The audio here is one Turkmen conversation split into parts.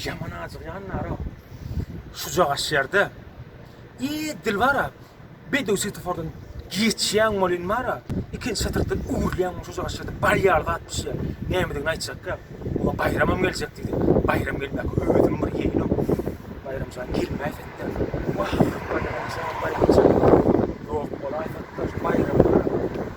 Ýaman ajygýan nara. Şuja gaşýarda. Eý, Dilbara, bedew swetofordan geçýäň welin bara, ikinji şatrykdan öwrülýäň şuja gaşýarda bar ýaly zat düşýär. Nämedigini aýtjakka, oňa Baýramam geljek diýdi. Baýram gelmäka özüm bir ýeňiň. Baýramjan gelmäýse-de. Wah, Baýramjan, Baýramjan. Ýok bolaýsa-da, şu Baýrama.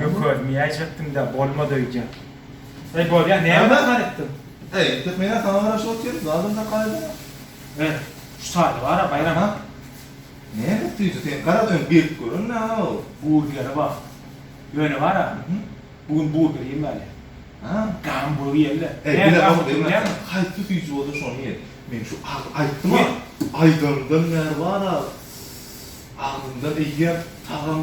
Gökölmeyäýjekdiň-dä, bolmady öýdýän. Eý, bolýa, näme dakar etdiň? Eý, tek men-ä saňa garaşyp otyryn, zadam dakar edemok. Ber, şu taýy bar-a, Baýram. Aha. Näme süýji, sen garaz öň berip gören nä-ow? Burgeri bar. Ýöne bar-a, bu gün burger iýmäli. A? Gamburg iýeli-de. Eý, bile gowusy bilýäňmi? Haýsy süýji bolsa şony iýeli. Men şu agy aýtdym-a, aýdanymdan bäri bar-a, agzymdan eýýäm tagam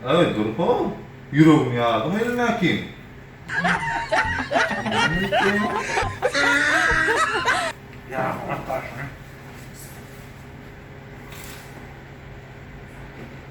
Aý, durka, ýüregim ýardy welin mäkim.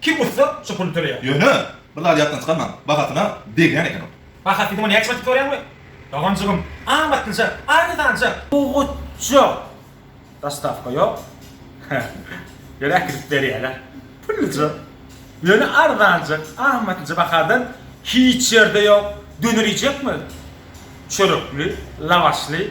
Kim utsa, şu puly töleýär. Ýöne, bir zady ýatdan çykarmaň, bahasyna degýän eken ol. Baha diýdiň-ä näçe batyp sorýaňmy? Doganjygym, amatlyja, arzanja. Bugutja. Dostawka ýok. Ýöne äkidip berýärler. Pulluja. Ýöne arzanja, amatlyja bahadan hiç ýerde ýok. Döner iýjekmi? Çörekli, lawaşly.